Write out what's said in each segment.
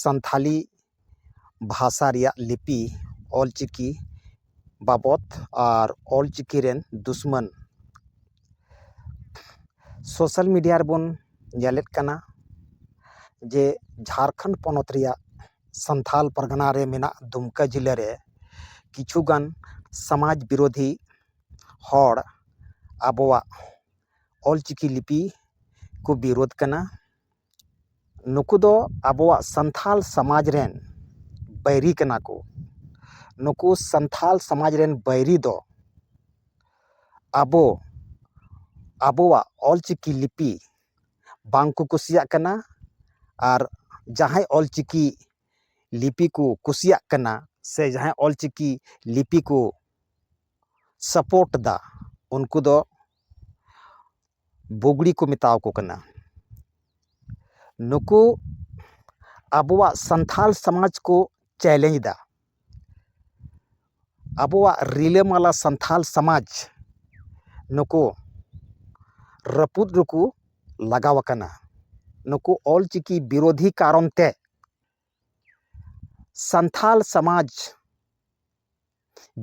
ᱥᱟᱱᱛᱷᱟᱞᱤ ᱵᱷᱟᱥᱟ ᱨᱮᱭᱟᱜ ᱞᱤᱯᱤ ᱚᱞ ᱪᱤᱠᱤ ᱵᱟᱵᱚᱛ ᱟᱨ ᱚᱞ ᱪᱤᱠᱤ ᱨᱮᱱ ᱫᱩᱥᱢᱟᱹᱱ ᱥᱳᱥᱟᱞ ᱢᱤᱰᱤᱭᱟ ᱨᱮᱵᱚᱱ ᱧᱮᱞᱮᱫ ᱠᱟᱱᱟ ᱡᱮ ᱡᱷᱟᱲᱠᱷᱚᱸᱰ ᱯᱚᱱᱚᱛ ᱨᱮᱭᱟᱜ ᱥᱟᱱᱛᱷᱟᱞ ᱯᱟᱨᱜᱟᱱᱟ ᱨᱮ ᱢᱮᱱᱟᱜ ᱫᱩᱢᱠᱟ ᱡᱮᱞᱟ ᱨᱮ ᱠᱤᱪᱷᱩ ᱜᱟᱱ ᱥᱚᱢᱟᱡᱽ ᱵᱤᱨᱳᱫᱷᱤ ᱦᱚᱲ ᱟᱵᱚᱣᱟᱜ ᱚᱞ ᱪᱤᱠᱤ ᱞᱤᱯᱤ ᱠᱚ ᱵᱤᱨᱳᱫᱷ ᱠᱟᱱᱟ ᱱᱩᱠᱩ ᱫᱚ ᱟᱵᱚᱣᱟᱜ ᱥᱟᱱᱛᱟᱲ ᱥᱚᱢᱟᱡᱽ ᱨᱮᱱ ᱵᱟᱹᱭᱨᱤ ᱠᱟᱱᱟ ᱠᱚ ᱱᱩᱠᱩ ᱥᱟᱱᱛᱟᱲ ᱥᱚᱢᱟᱡᱽ ᱨᱮᱱ ᱵᱟᱹᱭᱨᱤ ᱫᱚ ᱟᱵᱚ ᱟᱵᱚᱣᱟᱜ ᱚᱞ ᱪᱤᱠᱤ ᱞᱤᱯᱤ ᱵᱟᱝ ᱠᱚ ᱠᱩᱥᱤᱭᱟᱜ ᱠᱟᱱᱟ ᱟᱨ ᱡᱟᱦᱟᱸᱭ ᱚᱞ ᱪᱤᱠᱤ ᱞᱤᱯᱤ ᱠᱚ ᱠᱩᱥᱤᱭᱟᱜ ᱠᱟᱱᱟ ᱥᱮ ᱡᱟᱦᱟᱸᱭ ᱚᱞ ᱪᱤᱠᱤ ᱞᱤᱯᱤ ᱠᱚ ᱥᱟᱯᱳᱨᱴ ᱮᱫᱟ ᱩᱱᱠᱩ ᱫᱚ ᱵᱩᱜᱽᱲᱤ ᱠᱚ ᱢᱮᱛᱟᱣᱟᱠᱚ ᱠᱟᱱᱟ ᱱᱩᱠᱩ ᱟᱵᱚᱣᱟᱜ ᱥᱟᱱᱛᱟᱲ ᱥᱚᱢᱟᱡᱽ ᱠᱚ ᱪᱮᱞᱮᱧᱡᱽ ᱮᱫᱟ ᱟᱵᱚᱣᱟᱜ ᱨᱤᱞᱟᱹᱢᱟᱞᱟ ᱥᱟᱱᱛᱟᱲ ᱥᱚᱢᱟᱡᱽ ᱱᱩᱠᱩ ᱨᱟᱹᱯᱩᱫ ᱨᱮᱠᱚ ᱞᱟᱜᱟᱣᱟᱠᱟᱱᱟ ᱱᱩᱠᱩ ᱚᱞ ᱪᱤᱠᱤ ᱵᱤᱨᱳᱫᱷᱤ ᱠᱟᱨᱚᱱ ᱛᱮ ᱥᱟᱱᱛᱟᱲ ᱥᱚᱢᱟᱡᱽ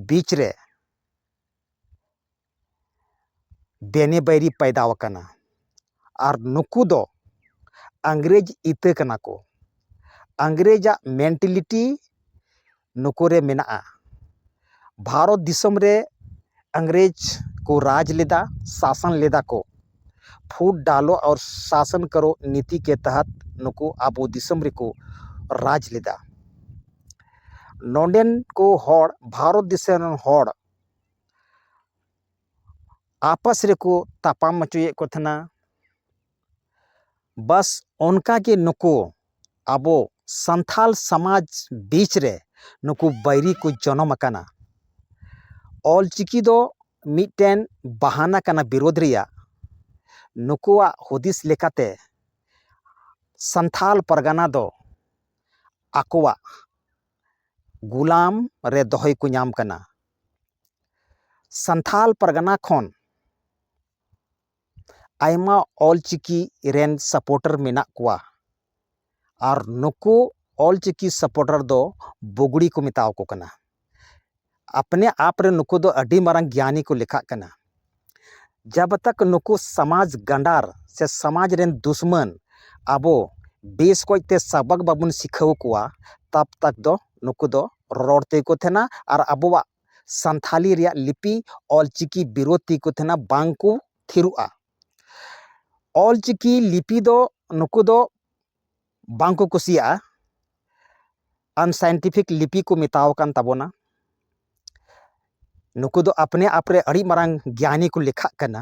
ᱵᱤᱪ ᱨᱮ ᱵᱮᱱᱮ ᱵᱟᱹᱭᱨᱤ ᱯᱟᱭᱫᱟ ᱟᱠᱟᱱᱟ ᱟᱨ ᱱᱩᱠᱩ ᱫᱚ ᱤᱝᱨᱮᱡᱽ ᱤᱛᱟᱹ ᱠᱟᱱᱟ ᱠᱚ ᱤᱝᱨᱮᱡᱟᱜ ᱢᱮᱱᱴᱮᱞᱤᱴᱤ ᱱᱩᱠᱩ ᱨᱮ ᱢᱮᱱᱟᱜᱼᱟ ᱵᱷᱟᱨᱚᱛ ᱫᱤᱥᱚᱢ ᱨᱮ ᱤᱝᱨᱮᱡᱽ ᱠᱚ ᱨᱟᱡᱽ ᱞᱮᱫᱟ ᱥᱟᱥᱚᱱ ᱞᱮᱫᱟ ᱠᱚ ᱯᱷᱩᱴ ᱰᱟᱞᱚ ᱟᱨ ᱥᱟᱥᱚᱱ ᱠᱟᱨᱚ ᱱᱤᱛᱤ ᱠᱮ ᱛᱟᱦᱟᱛ ᱱᱩᱠᱩ ᱟᱵᱚ ᱫᱤᱥᱚᱢ ᱨᱮᱠᱚ ᱨᱟᱡᱽ ᱞᱮᱫᱟ ᱱᱚᱰᱮᱱ ᱠᱚ ᱦᱚᱲ ᱵᱷᱟᱨᱚᱛ ᱫᱤᱥᱚᱢ ᱨᱮᱱ ᱦᱚᱲ ᱟᱯᱟᱥ ᱨᱮᱠᱚ ᱛᱟᱯᱟᱢ ᱚᱪᱚᱭᱮᱫ ᱠᱚ ᱛᱟᱦᱮᱱᱟ ᱵᱟᱥ ᱚᱱᱠᱟ ᱜᱮ ᱱᱩᱠᱩ ᱟᱵᱚ ᱥᱟᱱᱛᱷᱟᱞ ᱥᱟᱢᱟᱡᱽ ᱵᱤᱪ ᱨᱮ ᱱᱩᱠᱩ ᱵᱟᱹᱭᱨᱤ ᱠᱚ ᱡᱚᱱᱚᱢ ᱟᱠᱟᱱᱟ ᱚᱞᱪᱤᱠᱤ ᱫᱚ ᱢᱤᱫᱴᱮᱱ ᱵᱟᱦᱟᱱᱟ ᱠᱟᱱᱟ ᱵᱤᱨᱳᱫᱷ ᱨᱮᱭᱟᱜ ᱱᱩᱠᱩᱣᱟᱜ ᱦᱩᱫᱤᱥ ᱞᱮᱠᱟᱛᱮ ᱥᱟᱱᱛᱷᱟᱞ ᱯᱟᱨᱜᱟᱱᱟ ᱫᱚ ᱟᱠᱚᱣᱟᱜ ᱜᱩᱞᱟᱢ ᱨᱮ ᱫᱚᱦᱚᱭ ᱠᱚ ᱧᱟᱢ ᱠᱟᱱᱟ ᱥᱟᱱᱛᱷᱟᱞ ᱯᱟᱨᱜᱟᱱᱟ ᱠᱷᱚᱱ ᱟᱭᱢᱟ ᱚᱞ ᱪᱤᱠᱤ ᱨᱮᱱ ᱥᱟᱯᱳᱴᱟᱨ ᱢᱮᱱᱟᱜ ᱠᱚᱣᱟ ᱟᱨ ᱱᱩᱠᱩ ᱚᱞ ᱪᱤᱠᱤ ᱥᱟᱯᱳᱴᱟᱨ ᱫᱚ ᱵᱩᱜᱽᱲᱤ ᱠᱚ ᱢᱮᱛᱟ ᱟᱠᱚ ᱠᱟᱱᱟ ᱟᱯᱱᱮ ᱟᱯ ᱨᱮ ᱱᱩᱠᱩ ᱫᱚ ᱟᱹᱰᱤ ᱢᱟᱨᱟᱝ ᱜᱮᱭᱟᱱᱤ ᱠᱚ ᱞᱮᱠᱷᱟᱜ ᱠᱟᱱᱟ ᱡᱟᱵᱽ ᱛᱚᱠ ᱱᱩᱠᱩ ᱥᱚᱢᱟᱡᱽ ᱜᱟᱸᱰᱟᱨ ᱥᱮ ᱥᱚᱢᱟᱡᱽ ᱨᱮᱱ ᱫᱩᱥᱢᱟᱹᱱ ᱟᱵᱚ ᱵᱮᱥ ᱚᱠᱚᱡ ᱛᱮ ᱥᱟᱵᱟᱠ ᱵᱟᱵᱚᱱ ᱥᱤᱠᱷᱟᱹᱣ ᱠᱚᱣᱟ ᱛᱟᱵᱽ ᱛᱚᱠ ᱫᱚ ᱱᱩᱠᱩ ᱫᱚ ᱨᱚᱨᱚᱲ ᱛᱮᱜᱮ ᱠᱚ ᱛᱟᱦᱮᱱᱟ ᱟᱨ ᱟᱵᱚᱣᱟᱜ ᱥᱟᱱᱛᱷᱟᱞᱤ ᱨᱮᱭᱟᱜ ᱞᱤᱯᱤ ᱚᱞᱪᱤᱠᱤ ᱵᱤᱨᱳᱫᱷᱤ ᱠᱚ ᱛᱟᱦᱮᱱᱟ ᱵᱟᱝ ᱠᱚ ᱛᱷᱤᱨᱚᱜᱼᱟ ᱚᱞᱪᱤᱠᱤ ᱞᱤᱯᱤ ᱫᱚ ᱱᱩᱠᱩ ᱫᱚ ᱵᱟᱝ ᱠᱚ ᱠᱩᱥᱤᱭᱟᱜᱼᱟ ᱟᱱᱥᱟᱭᱮᱱᱴᱤᱯᱷᱤᱠ ᱞᱤᱯᱤ ᱠᱚ ᱢᱮᱛᱟᱣ ᱟᱠᱟᱱ ᱛᱟᱵᱚᱱᱟ ᱱᱩᱠᱩ ᱫᱚ ᱟᱯᱱᱮ ᱟᱯᱨᱮ ᱟᱹᱰᱤ ᱢᱟᱨᱟᱝ ᱜᱮᱭᱟᱱᱤ ᱠᱚ ᱞᱮᱠᱷᱟᱜ ᱠᱟᱱᱟ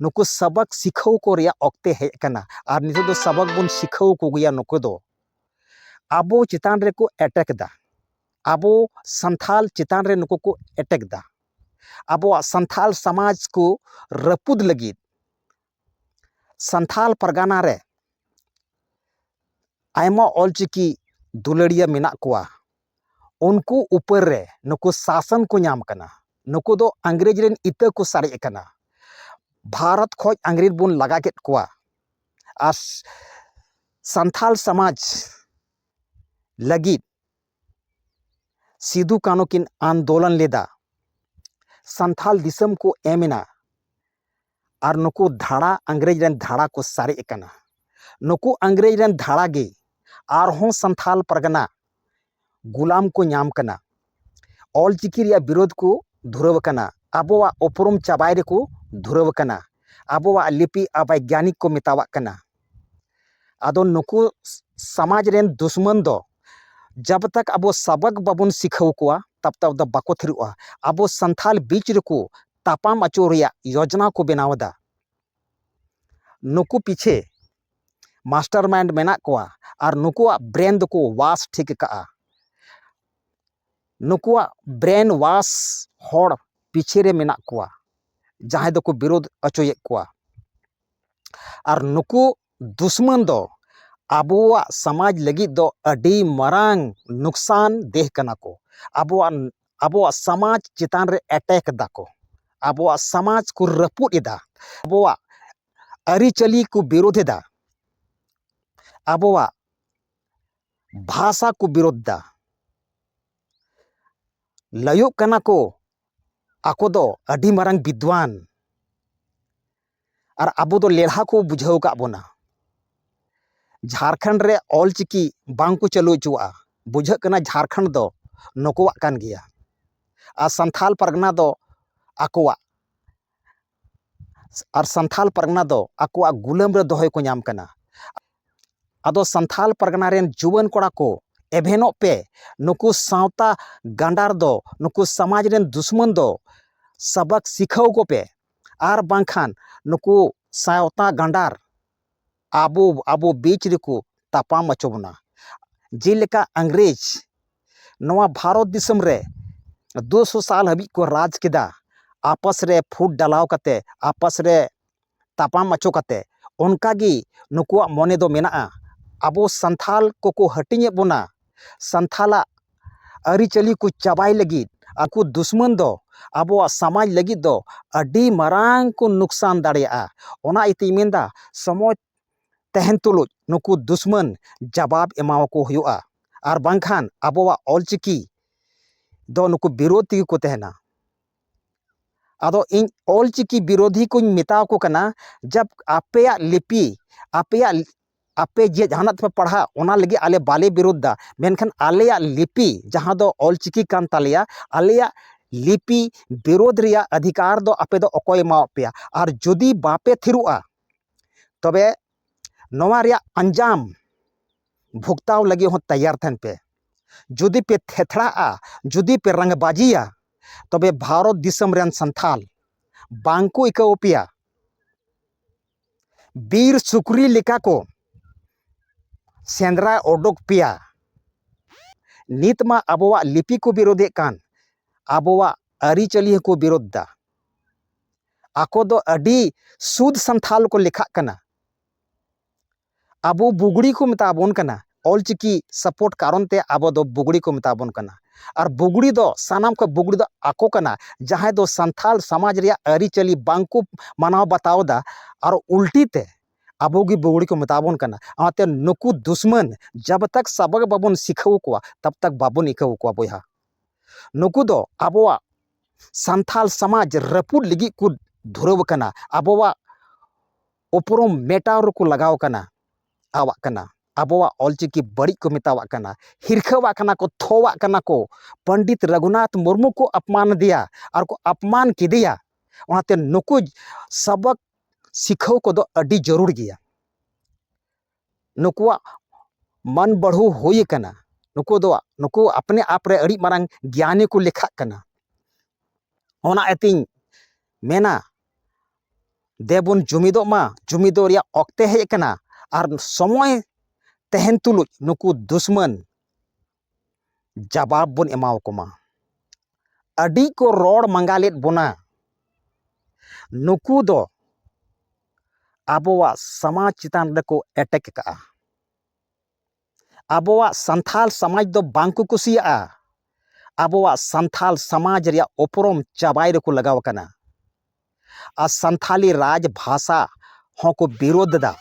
ᱱᱩᱠᱩ ᱥᱟᱵᱟᱠ ᱥᱤᱠᱷᱟᱹᱣ ᱠᱚ ᱨᱮᱭᱟᱜ ᱚᱠᱛᱮ ᱦᱮᱡ ᱟᱠᱟᱱᱟ ᱟᱨ ᱱᱤᱛᱚᱜ ᱫᱚ ᱥᱟᱵᱟᱠ ᱵᱚᱱ ᱥᱤᱠᱷᱟᱹᱣ ᱠᱚᱜᱮᱭᱟ ᱱᱩᱠᱩ ᱫᱚ ᱟᱵᱚ ᱪᱮᱛᱟᱱ ᱨᱮᱠᱚ ᱮᱴᱮᱠ ᱮᱫᱟ ᱟᱵᱚ ᱥᱟᱱᱛᱷᱟᱞ ᱪᱮᱛᱟᱱ ᱨᱮ ᱱᱩᱠᱩ ᱠᱚ ᱮᱴᱮᱠ ᱮᱫᱟ ᱟᱵᱚᱣᱟᱜ ᱥᱟᱱᱛᱷᱟᱞ ᱥᱚᱢᱟᱡᱽ ᱠᱚ ᱨᱟᱹᱯᱩᱫ ᱞᱟᱹᱜᱤᱫ ᱥᱟᱱᱛᱷᱟᱞ ᱯᱟᱨᱜᱟᱱᱟ ᱨᱮ ᱟᱭᱢᱟ ᱚᱞᱪᱤᱠᱤ ᱫᱩᱞᱟᱹᱲᱤᱭᱟᱹ ᱢᱮᱱᱟᱜ ᱠᱚᱣᱟ ᱩᱱᱠᱩ ᱩᱯᱟᱹᱨ ᱨᱮ ᱱᱩᱠᱩ ᱥᱟᱥᱚᱱ ᱠᱚ ᱧᱟᱢ ᱠᱟᱱᱟ ᱱᱩᱠᱩ ᱫᱚ ᱤᱝᱨᱮᱡᱽ ᱨᱮᱱ ᱤᱛᱟᱹ ᱠᱚ ᱥᱟᱨᱮᱡ ᱟᱠᱟᱱᱟ ᱵᱷᱟᱨᱚᱛ ᱠᱷᱚᱱ ᱤᱝᱨᱮᱡᱽ ᱵᱚᱱ ᱞᱟᱜᱟ ᱠᱮᱫ ᱠᱚᱣᱟ ᱟᱨ ᱥᱟᱱᱛᱟᱲ ᱥᱚᱢᱟᱡᱽ ᱞᱟᱹᱜᱤᱫ ᱥᱤᱫᱩ ᱠᱟᱹᱱᱩ ᱠᱤᱱ ᱟᱱᱫᱳᱞᱚᱱ ᱞᱮᱫᱟ ᱥᱟᱱᱛᱟᱲ ᱫᱤᱥᱚᱢ ᱠᱚ ᱮᱢ ᱮᱱᱟ ᱟᱨ ᱱᱩᱠᱩ ᱫᱷᱟᱲᱟ ᱤᱝᱨᱮᱡᱽ ᱨᱮᱱ ᱫᱷᱟᱲᱟ ᱠᱚ ᱥᱟᱨᱮᱡ ᱟᱠᱟᱱᱟ ᱱᱩᱠᱩ ᱤᱝᱨᱮᱡᱽ ᱨᱮᱱ ᱫᱷᱟᱲᱟ ᱜᱮ ᱟᱨᱦᱚᱸ ᱥᱟᱱᱛᱷᱟᱞ ᱯᱟᱨᱜᱟᱱᱟ ᱜᱩᱞᱟᱢ ᱠᱚ ᱧᱟᱢ ᱠᱟᱱᱟ ᱚᱞ ᱪᱤᱠᱤ ᱨᱮᱭᱟᱜ ᱵᱤᱨᱳᱫ ᱠᱚ ᱫᱷᱩᱨᱟᱹᱣ ᱟᱠᱟᱱᱟ ᱟᱵᱚᱣᱟᱜ ᱩᱯᱨᱩᱢ ᱪᱟᱵᱟᱭ ᱨᱮᱠᱚ ᱫᱷᱩᱨᱟᱹᱣ ᱟᱠᱟᱱᱟ ᱟᱵᱚᱣᱟᱜ ᱞᱤᱯᱤ ᱟᱵᱟᱭᱜᱽᱜᱟᱱᱤᱠ ᱠᱚ ᱢᱮᱛᱟᱣᱟᱜ ᱠᱟᱱᱟ ᱟᱫᱚ ᱱᱩᱠᱩ ᱥᱟᱢᱟᱡᱽ ᱨᱮᱱ ᱫᱩᱥᱢᱟᱱ ᱫᱚ ᱡᱟᱵ ᱛᱟᱠ ᱟᱵᱚ ᱥᱟᱵᱟᱠ ᱵᱟᱵᱚᱱ ᱥᱤᱠᱷᱟᱹᱣ ᱠᱚᱣᱟ ᱛᱟᱵ ᱛᱟᱵ ᱫᱚ ᱵᱟᱠᱚ ᱛᱷᱤᱨᱚᱜᱼᱟ ᱟᱵᱚ ᱥᱟᱱᱛᱷᱟᱞ ᱵᱤᱪ ᱨᱮᱠᱚ ᱛᱟᱯᱟᱢ ᱟᱹᱪᱩᱨ ᱨᱮᱭᱟᱜ ᱭᱚᱡᱽᱱᱟ ᱠᱚ ᱵᱮᱱᱟᱣ ᱮᱫᱟ᱾ ᱱᱩᱠᱩ ᱯᱤᱪᱷᱮ ᱢᱟᱥᱴᱟᱨᱢᱟᱭᱤᱱᱰ ᱢᱮᱱᱟᱜ ᱠᱚᱣᱟ ᱟᱨ ᱱᱩᱠᱩᱣᱟᱜ ᱵᱨᱮᱱ ᱫᱚᱠᱚ ᱣᱟᱥ ᱴᱷᱤᱠ ᱟᱠᱟᱫᱼᱟ᱾ ᱱᱩᱠᱩᱣᱟᱜ ᱵᱨᱮᱱ ᱣᱟᱥ ᱦᱚᱲ ᱯᱤᱪᱷᱮ ᱨᱮ ᱢᱮᱱᱟᱜ ᱠᱚᱣᱟ ᱡᱟᱦᱟᱸᱭ ᱫᱚᱠᱚ ᱵᱤᱨᱳᱫᱷ ᱚᱪᱚᱭᱮᱫ ᱠᱚᱣᱟ᱾ ᱟᱨ ᱱᱩᱠᱩ ᱫᱩᱥᱢᱟᱹᱱ ᱫᱚ ᱟᱵᱚᱣᱟᱜ ᱥᱚᱢᱟᱡᱽ ᱞᱟᱹᱜᱤᱫ ᱫᱚ ᱟᱹᱰᱤ ᱢᱟᱨᱟᱝ ᱞᱚᱠᱥᱟᱱ ᱫᱮᱦ ᱠᱟᱱᱟ ᱠᱚ ᱟᱵᱚᱣᱟᱱ ᱟᱵᱚᱣᱟᱜ ᱥᱚᱢᱟᱡᱽ ᱪᱮᱛᱟᱱ ᱨᱮ ᱮᱴᱮᱠ ᱫᱟᱠᱚ ᱟᱵᱚᱣᱟᱜ ᱥᱚᱢᱟᱡᱽ ᱠᱚ ᱨᱟᱹᱯᱩᱫ ᱮᱫᱟ ᱟᱵᱚᱣᱟᱜ ᱟᱹᱨᱤᱪᱟᱹᱞᱤ ᱠᱚ ᱵᱤᱨᱳᱫᱷ ᱮᱫᱟ ᱟᱵᱚᱣᱟᱜ ᱵᱷᱟᱥᱟ ᱠᱚ ᱵᱤᱨᱳᱫᱷ ᱮᱫᱟ ᱞᱟᱹᱭᱚᱜ ᱠᱟᱱᱟ ᱠᱚ ᱟᱠᱚ ᱫᱚ ᱟᱹᱰᱤ ᱢᱟᱨᱟᱝ ᱵᱤᱫᱽᱫᱷᱣᱟᱱ ᱟᱨ ᱟᱵᱚ ᱫᱚ ᱞᱮᱞᱦᱟ ᱠᱚ ᱵᱩᱡᱷᱟᱹᱣ ᱠᱟᱜ ᱵᱚᱱᱟ ᱡᱷᱟᱲᱠᱷᱚᱸᱰ ᱨᱮ ᱚᱞ ᱪᱤᱠᱤ ᱵᱟᱝ ᱠᱚ ᱪᱟᱹᱞᱩ ᱦᱚᱪᱚᱣᱟᱜᱼᱟ ᱵᱩᱡᱷᱟᱹᱜ ᱠᱟᱱᱟ ᱡᱷᱟᱲᱠᱷᱚᱸᱰ ᱫᱚ ᱱᱩᱠᱩᱣᱟᱜ ᱠᱟᱱ ᱜᱮᱭᱟ ᱟᱨ ᱥᱟᱱᱛᱷᱟᱞ ᱯᱟᱨᱜᱟᱱᱟ ᱫᱚ ᱟᱠᱚᱣᱟᱜ ᱟᱨ ᱥᱟᱱᱛᱷᱟᱞ ᱯᱟᱨᱜᱟᱱᱟ ᱫᱚ ᱟᱠᱚᱣᱟᱜ ᱜᱩᱞᱟᱹᱢ ᱨᱮ ᱫᱚᱦᱚᱭ ᱠᱚ ᱧᱟᱢ ᱠᱟᱱᱟ ᱟᱫᱚ ᱥᱟᱱᱛᱷᱟᱞ ᱯᱟᱨᱜᱟᱱᱟ ᱨᱮᱱ ᱡᱩᱣᱟᱹᱱ ᱠᱚᱲᱟ ᱠᱚ ᱮᱵᱷᱮᱱᱚᱜ ᱯᱮ ᱱᱩᱠᱩ ᱥᱟᱶᱛᱟ ᱜᱟᱸᱰᱟᱨ ᱫᱚ ᱱᱩᱠᱩ ᱥᱚᱢᱟᱡᱽ ᱨᱮᱱ ᱫᱩᱥᱢᱚᱱ ᱫᱚ ᱥᱟᱵᱟᱠ ᱥᱤᱠᱷᱟᱹᱣ ᱠᱚᱯᱮ ᱟᱨ ᱵᱟᱝᱠᱷᱟᱱ ᱱᱩᱠᱩ ᱥᱟᱶᱛᱟ ᱜᱟᱸᱰᱟᱨ ᱟᱵᱚ ᱟᱵᱚ ᱵᱤᱪ ᱨᱮᱠᱚ ᱛᱟᱯᱟᱢ ᱦᱚᱪᱚ ᱵᱚᱱᱟ ᱡᱮᱞᱮᱠᱟ ᱤᱝᱨᱮᱡᱽ ᱱᱚᱣᱟ ᱵᱷᱟᱨᱚᱛ ᱫᱤᱥᱚᱢ ᱨᱮ ᱫᱩ ᱥᱚ ᱥᱟᱞ ᱦᱟᱹᱵᱤᱡ ᱠᱚ ᱨᱟᱡᱽ ᱠᱮᱫᱟ ᱟᱯᱟᱥ ᱨᱮ ᱯᱷᱩᱴ ᱰᱟᱞᱟᱣ ᱠᱟᱛᱮᱫ ᱟᱯᱟᱥ ᱨᱮ ᱛᱟᱯᱟᱢ ᱦᱚᱪᱚ ᱠᱟᱛᱮᱫ ᱚᱱᱠᱟᱜᱮ ᱱᱩᱠᱩᱣᱟᱜ ᱢᱚᱱᱮ ᱫᱚ ᱢᱮᱱᱟᱜᱼᱟ ᱟᱵᱚ ᱥᱟᱱᱛᱟᱲ ᱠᱚᱠᱚ ᱦᱟᱹᱴᱤᱧᱮᱫ ᱵᱚᱱᱟ ᱥᱟᱱᱛᱟᱲᱟᱜ ᱟᱹᱨᱤᱪᱟᱹᱞᱤ ᱠᱚ ᱪᱟᱵᱟᱭ ᱞᱟᱹᱜᱤᱫ ᱟᱠᱚ ᱫᱩᱥᱢᱟᱹᱱ ᱫᱚ ᱟᱵᱚᱣᱟᱜ ᱥᱟᱢᱟᱡᱽ ᱞᱟᱹᱜᱤᱫ ᱫᱚ ᱟᱹᱰᱤ ᱢᱟᱨᱟᱝ ᱠᱚ ᱞᱚᱠᱥᱟᱱ ᱫᱟᱲᱮᱭᱟᱜᱼᱟ ᱚᱱᱟ ᱤᱭᱟᱹ ᱛᱤᱧ ᱢᱮᱱᱫᱟ ᱥᱚᱢᱟᱡᱽ ᱛᱟᱦᱮᱱ ᱛᱩᱞᱩᱡ ᱱᱩᱠᱩ ᱫᱩᱥᱢᱟᱹᱱ ᱡᱟᱵᱟᱵᱽ ᱮᱢᱟᱣᱟᱠᱚ ᱦᱩᱭᱩᱜᱼᱟ ᱟᱨ ᱵᱟᱝᱠᱷᱟᱱ ᱟᱵᱚᱣᱟᱜ ᱚᱞ ᱪᱤᱠᱤ ᱫᱚ ᱱᱩᱠᱩ ᱵᱤᱨᱳᱫᱷᱤ ᱛᱮᱜᱮ ᱠᱚ ᱛᱟᱦᱮᱱᱟ ᱟᱫᱚ ᱤᱧ ᱚᱞ ᱪᱤᱠᱤ ᱵᱤᱨᱳᱫᱷᱤ ᱠᱚᱧ ᱢᱮᱛᱟᱣᱟᱠᱚ ᱠᱟᱱᱟ ᱡᱟᱵᱽ ᱟᱯᱮᱭᱟᱜ ᱞᱤᱯᱤ ᱟᱯᱮᱭᱟᱜ ᱟᱯᱮ ᱡᱮ ᱡᱟᱦᱟᱱᱟᱜ ᱛᱮᱯᱮ ᱯᱟᱲᱦᱟᱜ ᱚᱱᱟ ᱞᱟᱹᱜᱤᱫ ᱟᱞᱮ ᱵᱟᱞᱮ ᱵᱤᱨᱳᱫᱷᱫᱟ ᱢᱮᱱᱠᱷᱟᱱ ᱟᱞᱮᱭᱟᱜ ᱞᱤᱯᱤ ᱡᱟᱦᱟᱸ ᱫᱚ ᱚᱞ ᱪᱤᱠᱤ ᱠᱟᱱ ᱛᱟᱞᱮᱭᱟ ᱟᱞᱮᱭᱟᱜ ᱞᱤᱯᱤ ᱵᱤᱨᱳᱫᱷ ᱨᱮᱭᱟᱜ ᱚᱫᱷᱤᱠᱟᱨ ᱫᱚ ᱟᱯᱮ ᱫᱚ ᱚᱠᱚᱭ ᱮᱢᱟᱣᱟᱫ ᱯᱮᱭᱟ ᱟᱨ ᱡᱩᱫᱤ ᱵᱟᱯᱮ ᱛᱷᱤᱨᱚᱜᱼᱟ ᱛᱚᱵᱮ ᱱᱚᱣᱟ ᱨᱮᱭᱟᱜ ᱟᱧᱡᱟᱢ ᱵᱷᱚᱜᱽᱛᱟᱣ ᱞᱟᱹᱜᱤᱫ ᱦᱚᱸ ᱛᱮᱭᱟᱨ ᱛᱟᱦᱮᱱ ᱯᱮ ᱡᱩᱫᱤ ᱯᱮ ᱛᱷᱮᱛᱷᱲᱟᱜᱼᱟ ᱡᱩᱫᱤ ᱯᱮ ᱨᱟᱝ ᱵᱟᱡᱤᱭᱟ ᱛᱚᱵᱮ ᱵᱷᱟᱨᱚᱛ ᱫᱤᱥᱚᱢ ᱨᱮᱱ ᱥᱟᱱᱛᱷᱟᱞ ᱵᱟᱝ ᱠᱚ ᱟᱹᱭᱠᱟᱹᱣ ᱯᱮᱭᱟ ᱵᱤᱨ ᱥᱩᱠᱨᱤ ᱞᱮᱠᱟ ᱠᱚ ᱥᱮᱸᱫᱽᱨᱟ ᱚᱰᱚᱠ ᱯᱮᱭᱟ ᱱᱤᱛ ᱢᱟ ᱟᱵᱚᱣᱟᱜ ᱞᱤᱯᱤ ᱠᱚ ᱵᱤᱨᱳᱫᱮᱫ ᱠᱟᱱ ᱟᱵᱚᱣᱟᱜ ᱟᱹᱨᱤᱪᱟᱹᱞᱤ ᱦᱚᱸᱠᱚ ᱵᱤᱨᱳᱫ ᱫᱟ ᱟᱠᱚ ᱫᱚ ᱟᱹᱰᱤ ᱥᱩᱫ ᱥᱟᱱᱛᱷᱟᱞ ᱠᱚ ᱞᱮᱠᱷᱟᱜ ᱠᱟᱱᱟ ᱟᱵᱚ ᱵᱩᱜᱽᱲᱤ ᱠᱚ ᱢᱮᱛᱟ ᱵᱚᱱ ᱠᱟᱱᱟ ᱚᱞ ᱪᱤᱠᱤ ᱥᱟᱯᱳᱨᱴ ᱠᱟᱨᱚᱱ ᱛᱮ ᱟᱵᱚ ᱫᱚ ᱵᱩᱜᱽᱲᱤ ᱠᱚ ᱢᱮᱛᱟ ᱵᱚᱱ ᱠᱟᱱᱟ ᱟᱨ ᱵᱩᱜᱽᱲᱤ ᱫᱚ ᱥᱟᱱᱟᱢ ᱠᱷᱚᱱ ᱵᱩᱜᱽᱲᱤ ᱫᱚ ᱟᱠᱚ ᱠᱟᱱᱟ ᱡᱟᱦᱟᱸᱭ ᱫᱚ ᱥᱟᱱᱛᱟᱲ ᱥᱚᱢᱟᱡᱽ ᱨᱮᱭᱟᱜ ᱟᱹᱨᱤᱪᱟᱹᱞᱤ ᱵᱟᱝ ᱠᱚ ᱢᱟᱱᱟᱣ ᱵᱟᱛᱟᱣ ᱮᱫᱟ ᱟᱨ ᱩᱞᱴᱤ ᱛᱮ ᱟᱵᱚ ᱜᱮ ᱵᱩᱜᱽᱲᱤ ᱠᱚ ᱢᱮᱛᱟ ᱵᱚᱱ ᱠᱟᱱᱟ ᱚᱱᱟᱛᱮ ᱱᱩᱠᱩ ᱫᱩᱥᱢᱟᱹᱱ ᱡᱟᱵᱽ ᱛᱟᱠ ᱥᱟᱵᱚᱜᱽ ᱵᱟᱵᱚᱱ ᱥᱤᱠᱷᱟᱹᱣ ᱠᱚᱣᱟ ᱛᱟᱵᱽ ᱛᱟᱠ ᱵᱟᱵᱚᱱ ᱤᱠᱟᱹᱣ ᱠᱚᱣᱟ ᱵᱚᱭᱦᱟ ᱱᱩᱠᱩ ᱫᱚ ᱟᱵᱚᱣᱟᱜ ᱥᱟᱱᱛᱟᱲ ᱥᱚᱢᱟᱡᱽ ᱨᱟᱹᱯᱩᱫ ᱞᱟᱹᱜᱤᱫ ᱠᱚ ᱫᱷᱩᱨᱟᱹᱣ ᱟᱠᱟᱱᱟ ᱟᱵᱚᱣᱟᱜ ᱩᱯᱨᱩᱢ ᱢᱮᱴᱟᱣ ᱨᱮᱠᱚ ᱞᱟᱜᱟᱣ ᱠᱟᱱᱟ ᱟᱣᱟᱜ ᱠᱟᱱᱟ ᱟᱵᱚᱣᱟᱜ ᱚᱞ ᱪᱤᱠᱤ ᱵᱟᱹᱲᱤᱡ ᱠᱚ ᱢᱮᱛᱟᱣᱟᱜ ᱠᱟᱱᱟ ᱦᱤᱨᱠᱷᱟᱹᱣᱟᱜ ᱠᱟᱱᱟ ᱠᱚ ᱛᱷᱚᱣᱟᱜ ᱠᱟᱱᱟ ᱠᱚ ᱯᱚᱱᱰᱤᱛ ᱨᱟᱹᱜᱷᱩᱱᱟᱛᱷ ᱢᱩᱨᱢᱩ ᱠᱚ ᱟᱯᱢᱟᱱ ᱟᱫᱮᱭᱟ ᱟᱨ ᱠᱚ ᱟᱯᱢᱟᱱ ᱠᱮᱫᱮᱭᱟ ᱚᱱᱟᱛᱮ ᱱᱩᱠᱩ ᱥᱟᱵᱚᱠ ᱥᱤᱠᱷᱟᱹᱣ ᱠᱚᱫᱚ ᱟᱹᱰᱤ ᱡᱟᱹᱨᱩᱲ ᱜᱮᱭᱟ ᱱᱩᱠᱩᱣᱟᱜ ᱢᱟᱹᱱ ᱵᱟᱹᱲᱦᱩ ᱦᱩᱭ ᱠᱟᱱᱟ ᱱᱩᱠᱩ ᱫᱚ ᱱᱩᱠᱩ ᱟᱯᱱᱮ ᱟᱯ ᱨᱮ ᱟᱹᱰᱤ ᱢᱟᱨᱟᱝ ᱜᱮᱭᱟᱱᱤ ᱠᱚ ᱞᱮᱠᱷᱟᱜ ᱠᱟᱱᱟ ᱚᱱᱟ ᱤᱭᱟᱹᱛᱤᱧ ᱢᱮᱱᱟ ᱫᱮᱵᱚᱱ ᱡᱩᱢᱤᱫᱚᱜ ᱢᱟ ᱡᱩᱢᱤᱫᱚᱜ ᱨᱮᱭᱟᱜ ᱚᱠᱛᱮ ᱦᱮᱡ ᱠᱟᱱᱟ ᱟᱨ ᱥᱚᱢᱚᱭ ᱛᱟᱦᱮᱱ ᱛᱩᱞᱩᱡ ᱱᱩᱠᱩ ᱫᱩᱥᱢᱟᱹᱱ ᱡᱟᱵᱟᱵ ᱵᱚᱱ ᱮᱢᱟᱣ ᱠᱚ ᱢᱟ ᱟᱹᱰᱤ ᱠᱚ ᱨᱚᱲ ᱢᱟᱸᱜᱟ ᱞᱮᱫ ᱵᱚᱱᱟ ᱱᱩᱠᱩ ᱫᱚ ᱟᱵᱚᱣᱟᱜ ᱥᱟᱢᱟᱡᱽ ᱪᱮᱛᱟᱱ ᱨᱮᱠᱚ ᱮᱴᱮᱠ ᱠᱟᱜᱼᱟ ᱟᱵᱚᱣᱟᱜ ᱥᱟᱱᱛᱟᱲ ᱥᱚᱢᱟᱡᱽ ᱫᱚ ᱵᱟᱝ ᱠᱚ ᱠᱩᱥᱤᱭᱟᱜᱼᱟ ᱟᱵᱚᱣᱟᱜ ᱥᱟᱱᱛᱟᱲ ᱥᱚᱢᱟᱡᱽ ᱨᱮᱭᱟᱜ ᱩᱯᱨᱩᱢ ᱪᱟᱵᱟᱭ ᱨᱮᱠᱚ ᱞᱟᱜᱟᱣ ᱠᱟᱱᱟ ᱟᱨ ᱥᱟᱱᱛᱟᱲᱤ ᱨᱟᱡᱽ ᱵᱷᱟᱥᱟ ᱦᱚᱸᱠᱚ ᱵᱤᱨᱳᱫᱷ ᱮᱫᱟ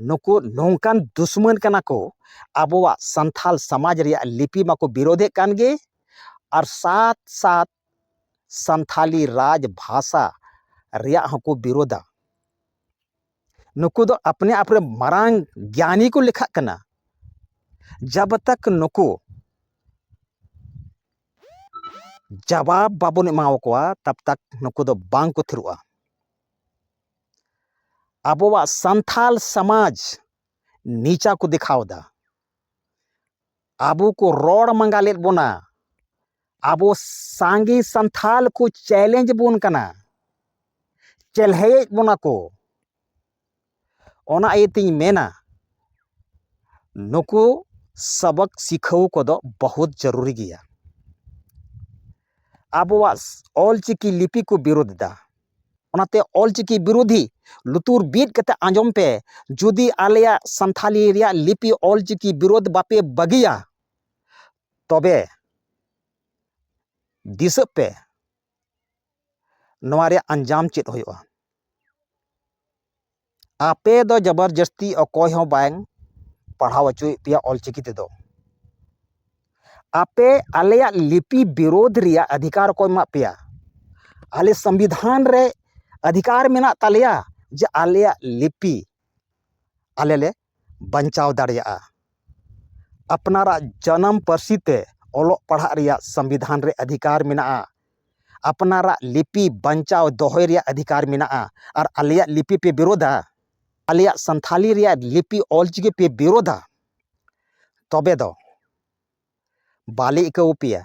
ᱱᱩᱠᱩ ᱱᱚᱝᱠᱟᱱ ᱫᱩᱥᱢᱟᱹᱱ ᱠᱟᱱᱟ ᱠᱚ ᱟᱵᱚᱣᱟᱜ ᱥᱟᱱᱛᱟᱲ ᱥᱚᱢᱟᱡᱽ ᱨᱮᱭᱟᱜ ᱞᱤᱯᱤ ᱢᱟᱠᱚ ᱵᱤᱨᱳᱫᱮᱫ ᱠᱟᱱ ᱜᱮ ᱟᱨ ᱥᱟᱛ ᱥᱟᱛ ᱥᱟᱱᱛᱟᱲᱤ ᱨᱟᱡᱽ ᱵᱷᱟᱥᱟ ᱨᱮᱭᱟᱜ ᱦᱚᱸᱠᱚ ᱵᱤᱨᱳᱫᱟ ᱱᱩᱠᱩ ᱫᱚ ᱟᱯᱱᱮ ᱟᱯᱱᱮ ᱢᱟᱨᱟᱝ ᱜᱮᱭᱟᱱᱤ ᱠᱚ ᱞᱮᱠᱷᱟᱜ ᱠᱟᱱᱟ ᱡᱟᱵ ᱛᱟᱠ ᱱᱩᱠᱩ ᱡᱟᱵᱟᱵ ᱵᱟᱵᱚᱱ ᱮᱢᱟᱣᱟᱠᱚᱣᱟ ᱛᱟᱵ ᱛᱟᱠ ᱱᱩᱠᱩ ᱫᱚ ᱵᱟᱝ ᱠᱚ ᱛᱷᱤᱨᱚᱜᱼᱟ ᱟᱵᱚᱣᱟᱜ ᱥᱟᱱᱛᱟᱲ ᱥᱚᱢᱟᱡᱽ ᱱᱤᱪᱟ ᱠᱚ ᱫᱮᱠᱷᱟᱣ ᱮᱫᱟ ᱟᱵᱚ ᱠᱚ ᱨᱚᱲ ᱢᱟᱸᱜᱟ ᱞᱮᱫ ᱵᱚᱱᱟ ᱟᱵᱚ ᱥᱟᱸᱜᱮ ᱥᱟᱱᱛᱟᱲ ᱠᱚ ᱪᱮᱞᱮᱧᱡᱽ ᱵᱚᱱ ᱠᱟᱱᱟ ᱪᱮᱞᱦᱮᱭᱮᱫ ᱵᱚᱱᱟ ᱠᱚ ᱚᱱᱟ ᱤᱭᱟᱹᱛᱤᱧ ᱢᱮᱱᱟ ᱱᱩᱠᱩ ᱥᱚᱵᱚᱠ ᱥᱤᱠᱷᱟᱹᱣ ᱠᱚᱫᱚ ᱵᱚᱦᱩᱛ ᱡᱟᱹᱨᱩᱨᱤ ᱜᱮᱭᱟ ᱟᱵᱚᱣᱟᱜ ᱚᱞᱪᱤᱠᱤ ᱞᱤᱯᱤ ᱠᱚ ᱵᱤᱨᱳᱫᱷ ᱮᱫᱟ ᱚᱱᱟᱛᱮ ᱚᱞ ᱪᱤᱠᱤ ᱵᱤᱨᱳᱫᱷᱤ ᱞᱩᱛᱩᱨ ᱵᱤᱫ ᱠᱟᱛᱮ ᱟᱸᱡᱚᱢ ᱯᱮ ᱡᱩᱫᱤ ᱟᱞᱮᱭᱟᱜ ᱥᱟᱱᱛᱷᱟᱞᱤ ᱨᱮᱭᱟᱜ ᱞᱤᱯᱤ ᱚᱞ ᱪᱤᱠᱤ ᱵᱤᱨᱳᱫ ᱵᱟᱯᱮ ᱵᱟᱹᱜᱤᱭᱟ ᱛᱚᱵᱮ ᱫᱤᱥᱟᱹᱜ ᱯᱮ ᱱᱚᱣᱟ ᱨᱮᱭᱟᱜ ᱟᱧᱡᱟᱢ ᱪᱮᱫ ᱦᱩᱭᱩᱜᱼᱟ ᱟᱯᱮ ᱫᱚ ᱡᱚᱵᱚᱨ ᱡᱟᱹᱥᱛᱤ ᱚᱠᱚᱭ ᱦᱚᱸ ᱵᱟᱝ ᱯᱟᱲᱦᱟᱣ ᱦᱚᱪᱚᱭᱮᱫ ᱯᱮᱭᱟ ᱚᱞ ᱪᱤᱠᱤ ᱛᱮᱫᱚ ᱟᱯᱮ ᱟᱞᱮᱭᱟᱜ ᱞᱤᱯᱤ ᱵᱤᱨᱳᱫᱷ ᱨᱮᱭᱟᱜ ᱚᱫᱷᱤᱠᱟᱨ ᱚᱠᱚᱭ ᱮᱢᱟᱜ ᱯᱮᱭᱟ ᱟᱞᱮ ᱥᱚᱝᱵᱤᱫᱷᱟᱱ ᱨᱮ ᱚᱫᱷᱤᱠᱟᱨ ᱢᱮᱱᱟᱜ ᱛᱟᱞᱮᱭᱟ ᱡᱮ ᱟᱞᱮᱭᱟᱜ ᱞᱤᱯᱤ ᱟᱞᱮ ᱞᱮ ᱵᱟᱧᱪᱟᱣ ᱫᱟᱲᱮᱭᱟᱜᱼᱟ ᱟᱯᱱᱟᱨᱟᱜ ᱡᱟᱱᱟᱢ ᱯᱟᱹᱨᱥᱤ ᱛᱮ ᱚᱞᱚᱜ ᱯᱟᱲᱦᱟᱜ ᱨᱮᱭᱟᱜ ᱥᱚᱝᱵᱤᱫᱷᱟᱱ ᱨᱮ ᱚᱫᱷᱤᱠᱟᱨ ᱢᱮᱱᱟᱜᱼᱟ ᱟᱯᱱᱟᱨᱟᱜ ᱞᱤᱯᱤ ᱵᱟᱧᱪᱟᱣ ᱫᱚᱦᱚᱭ ᱨᱮᱭᱟᱜ ᱚᱫᱷᱤᱠᱟᱨ ᱢᱮᱱᱟᱜᱼᱟ ᱟᱨ ᱟᱞᱮᱭᱟᱜ ᱞᱤᱯᱤ ᱯᱮ ᱵᱤᱨᱳᱫᱟ ᱟᱞᱮᱭᱟᱜ ᱥᱟᱱᱛᱷᱟᱞᱤ ᱨᱮᱭᱟᱜ ᱞᱤᱯᱤ ᱚᱞ ᱪᱤᱠᱤ ᱯᱮ ᱵᱤᱨᱳᱫᱟ ᱛᱚᱵᱮ ᱫᱚ ᱵᱟᱞᱮ ᱤᱠᱟᱹᱣ ᱟᱯᱮᱭᱟ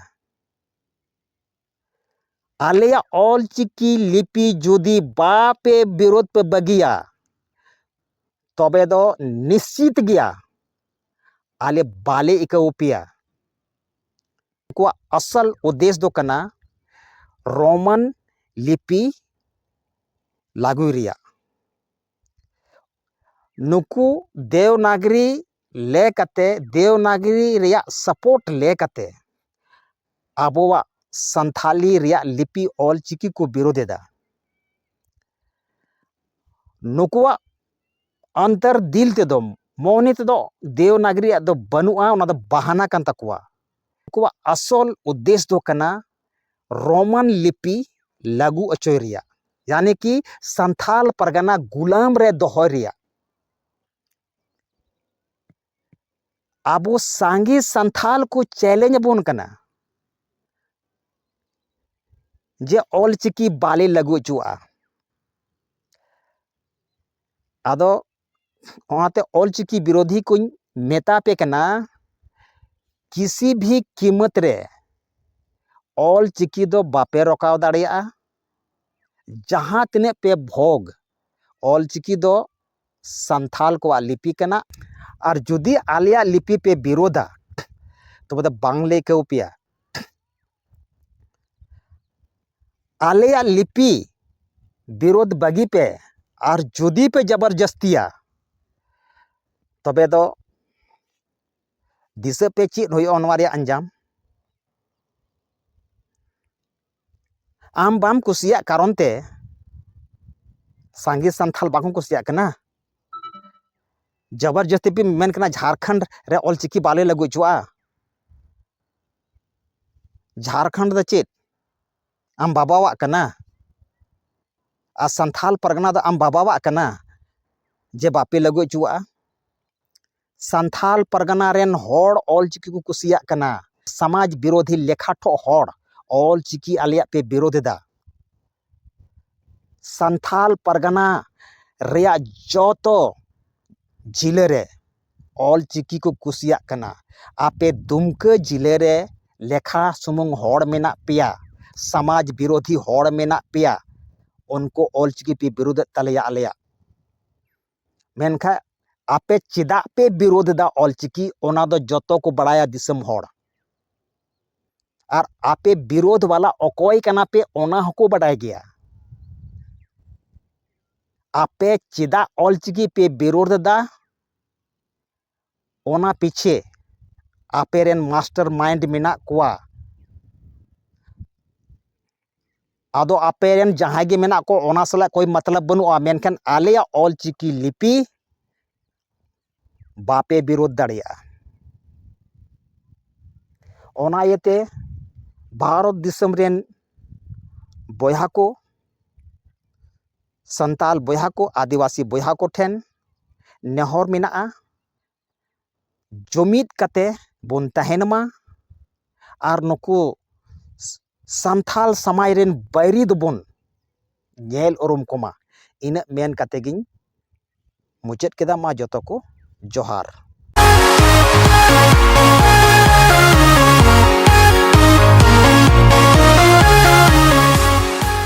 ᱟᱞᱮᱭᱟᱜ ᱚᱞ ᱪᱤᱠᱤ ᱞᱤᱯᱤ ᱡᱩᱫᱤ ᱵᱟᱯᱮ ᱵᱤᱨᱳᱫ ᱯᱮ ᱵᱟᱹᱜᱤᱭᱟ ᱛᱚᱵᱮ ᱫᱚ ᱱᱤᱥᱪᱤᱛ ᱜᱮᱭᱟ ᱟᱞᱮ ᱵᱟᱞᱮ ᱤᱠᱟᱹᱣ ᱯᱮᱭᱟ ᱩᱱᱠᱩᱣᱟᱜ ᱟᱥᱚᱞ ᱩᱫᱮᱥ ᱫᱚ ᱠᱟᱱᱟ ᱨᱳᱢᱟᱱ ᱞᱤᱯᱤ ᱞᱟᱹᱜᱩᱭ ᱨᱮᱭᱟᱜ ᱱᱩᱠᱩ ᱫᱮᱣᱱᱟᱜᱽᱨᱤ ᱞᱮ ᱠᱟᱛᱮ ᱫᱮᱣᱱᱟᱜᱽᱨᱤ ᱨᱮᱭᱟᱜ ᱥᱟᱯᱳᱨᱴ ᱞᱮ ᱠᱟᱛᱮ ᱟᱵᱚᱣᱟᱜ ᱥᱟᱱᱛᱷᱟᱞᱤ ᱨᱮᱭᱟᱜ ᱞᱤᱯᱤ ᱚᱞ ᱪᱤᱠᱤ ᱠᱚ ᱵᱤᱨᱳᱫᱷ ᱮᱫᱟ ᱱᱩᱠᱩᱣᱟᱜ ᱚᱱᱛᱚᱨ ᱫᱤᱞ ᱛᱮᱫᱚ ᱢᱚᱱᱮ ᱛᱮᱫᱚ ᱫᱮᱣᱱᱟᱜᱽᱨᱤ ᱨᱮᱭᱟᱜ ᱫᱚ ᱵᱟᱹᱱᱩᱜᱼᱟ ᱚᱱᱟ ᱫᱚ ᱵᱟᱦᱟᱱᱟ ᱠᱟᱱ ᱛᱟᱠᱚᱣᱟ ᱩᱱᱠᱩᱣᱟᱜ ᱟᱥᱚᱞ ᱩᱫᱽᱫᱮᱥ ᱫᱚ ᱠᱟᱱᱟ ᱨᱳᱢᱟᱱ ᱞᱤᱯᱤ ᱞᱟᱹᱜᱩ ᱚᱪᱚᱭ ᱨᱮᱭᱟᱜ ᱭᱟᱱᱤ ᱠᱤ ᱥᱟᱱᱛᱷᱟᱞ ᱯᱟᱨᱜᱟᱱᱟ ᱜᱩᱞᱟᱢ ᱨᱮ ᱫᱚᱦᱚᱭ ᱨᱮᱭᱟᱜ ᱟᱵᱚ ᱥᱟᱸᱜᱮ ᱥᱟᱱᱛᱷᱟᱞ ᱠᱚ ᱪᱮᱞᱮᱧᱡᱽ ᱟᱵᱚᱱ ᱠᱟᱱᱟ ᱡᱮ ᱚᱞ ᱪᱤᱠᱤ ᱵᱟᱞᱮ ᱞᱟᱹᱜᱩ ᱚᱪᱚᱣᱟᱜᱼᱟ ᱟᱫᱚ ᱚᱱᱟᱛᱮ ᱚᱞ ᱪᱤᱠᱤ ᱵᱤᱨᱳᱫᱷᱤ ᱠᱚᱧ ᱢᱮᱛᱟ ᱯᱮ ᱠᱟᱱᱟ ᱠᱤᱥᱤ ᱵᱷᱤ ᱠᱤᱢᱚᱛ ᱨᱮ ᱚᱞ ᱪᱤᱠᱤ ᱫᱚ ᱵᱟᱯᱮ ᱨᱚᱠᱟᱣ ᱫᱟᱲᱮᱭᱟᱜᱼᱟ ᱡᱟᱦᱟᱸ ᱛᱤᱱᱟᱹᱜ ᱯᱮ ᱵᱷᱳᱜᱽ ᱚᱞ ᱪᱤᱠᱤ ᱫᱚ ᱥᱟᱱᱛᱷᱟᱞ ᱠᱚᱣᱟᱜ ᱞᱤᱯᱤ ᱠᱟᱱᱟ ᱟᱨ ᱡᱩᱫᱤ ᱟᱞᱮᱭᱟᱜ ᱞᱤᱯᱤ ᱯᱮ ᱵᱤᱨᱳᱫᱟ ᱛᱚᱵᱮ ᱫᱚ ᱵᱟᱝᱞᱮ ᱟᱹᱭᱠᱟᱹᱣ ᱯᱮᱭᱟ ᱟᱞᱮᱭᱟᱜ ᱞᱤᱯᱤ ᱵᱤᱨᱳᱫ ᱵᱟᱹᱜᱤ ᱯᱮ ᱟᱨ ᱡᱩᱫᱤ ᱯᱮ ᱡᱟᱵᱚᱨ ᱡᱟᱹᱥᱛᱤᱭᱟ ᱛᱚᱵᱮ ᱫᱚ ᱫᱤᱥᱟᱹ ᱯᱮ ᱪᱮᱫ ᱦᱩᱭᱩᱜᱼᱟ ᱱᱚᱣᱟ ᱨᱮᱭᱟᱜ ᱟᱧᱡᱟᱢ ᱟᱢ ᱵᱟᱢ ᱠᱩᱥᱤᱭᱟᱜ ᱠᱟᱨᱚᱱ ᱛᱮ ᱥᱟᱸᱜᱮ ᱥᱟᱱᱛᱟᱲ ᱵᱟᱠᱚ ᱠᱩᱥᱤᱭᱟᱜ ᱠᱟᱱᱟ ᱡᱟᱵᱚᱨ ᱡᱟᱹᱥᱛᱤ ᱯᱮ ᱢᱮᱱ ᱠᱟᱱᱟ ᱡᱷᱟᱲᱠᱷᱚᱸᱰ ᱨᱮ ᱚᱞᱪᱤᱠᱤ ᱵᱟᱞᱮ ᱞᱟᱹᱜᱩ ᱦᱚᱪᱚᱣᱟᱜᱼᱟ ᱡᱷᱟᱲᱠᱷᱚᱸᱰ ᱫᱚ ᱪᱮᱫ ᱟᱢ ᱵᱟᱵᱟᱣᱟᱜ ᱠᱟᱱᱟ ᱟᱨ ᱥᱟᱱᱛᱷᱟᱞ ᱯᱟᱨᱜᱟᱱᱟ ᱫᱚ ᱟᱢ ᱵᱟᱵᱟᱣᱟᱜ ᱠᱟᱱᱟ ᱡᱮ ᱵᱟᱯᱮ ᱞᱟᱹᱜᱩ ᱦᱚᱪᱚᱣᱟᱜᱼᱟ ᱥᱟᱱᱛᱷᱟᱞ ᱯᱟᱨᱜᱟᱱᱟ ᱨᱮᱱ ᱦᱚᱲ ᱚᱞ ᱪᱤᱠᱤ ᱠᱚ ᱠᱩᱥᱤᱭᱟᱜ ᱠᱟᱱᱟ ᱥᱟᱢᱟᱡᱽ ᱵᱤᱨᱳᱫᱷᱤ ᱞᱮᱠᱷᱟ ᱴᱷᱚᱜ ᱦᱚᱲ ᱚᱞ ᱪᱤᱠᱤ ᱟᱞᱮᱭᱟᱜ ᱯᱮ ᱵᱤᱨᱳᱫᱷᱮᱫᱟ ᱥᱟᱱᱛᱷᱟᱞ ᱯᱟᱨᱜᱟᱱᱟ ᱨᱮᱭᱟᱜ ᱡᱚᱛᱚ ᱡᱤᱞᱟᱹ ᱨᱮ ᱚᱞ ᱪᱤᱠᱤ ᱠᱚ ᱠᱩᱥᱤᱭᱟᱜ ᱠᱟᱱᱟ ᱟᱯᱮ ᱫᱩᱢᱠᱟᱹ ᱡᱤᱞᱟᱹ ᱨᱮ ᱞᱮᱠᱷᱟ ᱥᱩᱢᱩᱝ ᱦᱚᱲ ᱢᱮᱱᱟᱜ ᱯᱮᱭᱟ ᱥᱟᱢᱟᱡᱽ ᱵᱤᱨᱳᱫᱷᱤ ᱦᱚᱲ ᱢᱮᱱᱟᱜ ᱯᱮᱭᱟ ᱩᱱᱠᱩ ᱚᱞ ᱪᱤᱠᱤ ᱯᱮ ᱵᱤᱨᱳᱫᱮᱫ ᱛᱟᱞᱮᱭᱟ ᱟᱞᱮᱭᱟᱜ ᱢᱮᱱᱠᱷᱟᱱ ᱟᱯᱮ ᱪᱮᱫᱟᱜ ᱯᱮ ᱵᱤᱨᱳᱫᱷ ᱮᱫᱟ ᱚᱞᱪᱤᱠᱤ ᱚᱱᱟ ᱫᱚ ᱡᱚᱛᱚ ᱠᱚ ᱵᱟᱲᱟᱭᱟ ᱫᱤᱥᱚᱢ ᱦᱚᱲ ᱟᱨ ᱟᱯᱮ ᱵᱤᱨᱳᱫᱷ ᱵᱟᱞᱟ ᱚᱠᱚᱭ ᱠᱟᱱᱟ ᱯᱮ ᱚᱱᱟ ᱦᱚᱸᱠᱚ ᱵᱟᱰᱟᱭ ᱜᱮᱭᱟ ᱟᱯᱮ ᱪᱮᱫᱟᱜ ᱚᱞᱪᱤᱠᱤ ᱯᱮ ᱵᱤᱨᱳᱫᱷ ᱮᱫᱟ ᱚᱱᱟ ᱯᱤᱪᱷᱮ ᱟᱯᱮ ᱨᱮᱱ ᱢᱟᱥᱴᱟᱨ ᱢᱟᱭᱤᱱᱰ ᱢᱮᱱᱟᱜ ᱠᱚᱣᱟ ᱟᱫᱚ ᱟᱯᱮ ᱨᱮᱱ ᱡᱟᱦᱟᱸᱭ ᱜᱮ ᱢᱮᱱᱟᱜ ᱠᱚ ᱚᱱᱟ ᱥᱟᱞᱟᱜ ᱠᱳᱭ ᱢᱚᱛᱞᱚᱵᱽ ᱵᱟᱹᱱᱩᱜᱼᱟ ᱢᱮᱱᱠᱷᱟᱱ ᱟᱞᱮᱭᱟᱜ ᱚᱞ ᱪᱤᱠᱤ ᱞᱤᱯᱤ ᱵᱟᱯᱮ ᱵᱤᱨᱳᱫᱷ ᱫᱟᱲᱮᱭᱟᱜᱼᱟ ᱚᱱᱟ ᱤᱭᱟᱹᱛᱮ ᱵᱷᱟᱨᱚᱛ ᱫᱤᱥᱚᱢ ᱨᱮᱱ ᱵᱚᱭᱦᱟ ᱠᱚ ᱥᱟᱱᱛᱟᱲ ᱵᱚᱭᱦᱟ ᱠᱚ ᱟᱹᱫᱤᱵᱟᱹᱥᱤ ᱵᱚᱭᱦᱟ ᱠᱚᱴᱷᱮᱱ ᱱᱮᱦᱚᱨ ᱢᱮᱱᱟᱜᱼᱟ ᱡᱩᱢᱤᱫ ᱠᱟᱛᱮ ᱵᱚᱱ ᱛᱟᱦᱮᱱ ᱢᱟ ᱟᱨ ᱱᱩᱠᱩ ᱥᱟᱱᱛᱟᱲ ᱥᱚᱢᱟᱡᱽ ᱨᱮᱱ ᱵᱟᱹᱭᱨᱤ ᱫᱚᱵᱚᱱ ᱧᱮᱞ ᱩᱨᱩᱢ ᱠᱚᱢᱟ ᱤᱱᱟᱹᱜ ᱢᱮᱱ ᱠᱟᱛᱮ ᱜᱤᱧ ᱢᱩᱪᱟᱹᱫ ᱠᱮᱫᱟ ᱢᱟ ᱡᱚᱛᱚ ᱠᱚ ᱡᱚᱦᱟᱨ